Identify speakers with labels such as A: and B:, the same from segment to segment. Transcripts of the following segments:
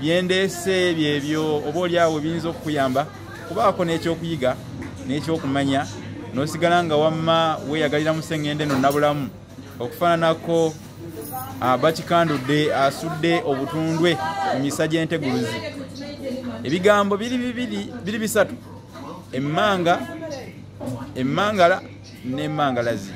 A: byendeese byebyo oba oli awo biyinza okukuyamba kubaako n'ekyokuyiga n'ekyokumanya n'osigala nga wamma weeyagalira mu sseŋŋendo eno nabulamu okufaananako ah, bakikandudde asudde obutundwe mu misa gy'enteguluzi ebigambo biri bibiri biri bisatu emmanga emmangala n'emmangalazi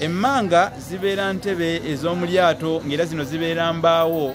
A: emmanga zibeera ntebe ez'omu lyato ng'era zino zibeera mbaawo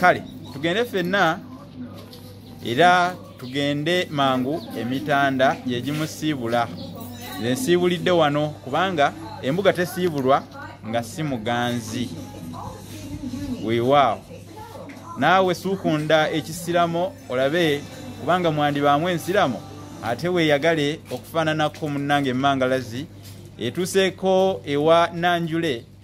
A: kale tugende fenna era tugende mangu emitanda gyegimusiibula nze nsiibulidde wano kubanga embuga tesiibulwa nga si muganzi weewaawo naawe suukunda ekisiramo olabe kubanga mwandibaamu ensiramo ate weeyagale okufaananako munnange emangalazi etuuseeko ewa nanjule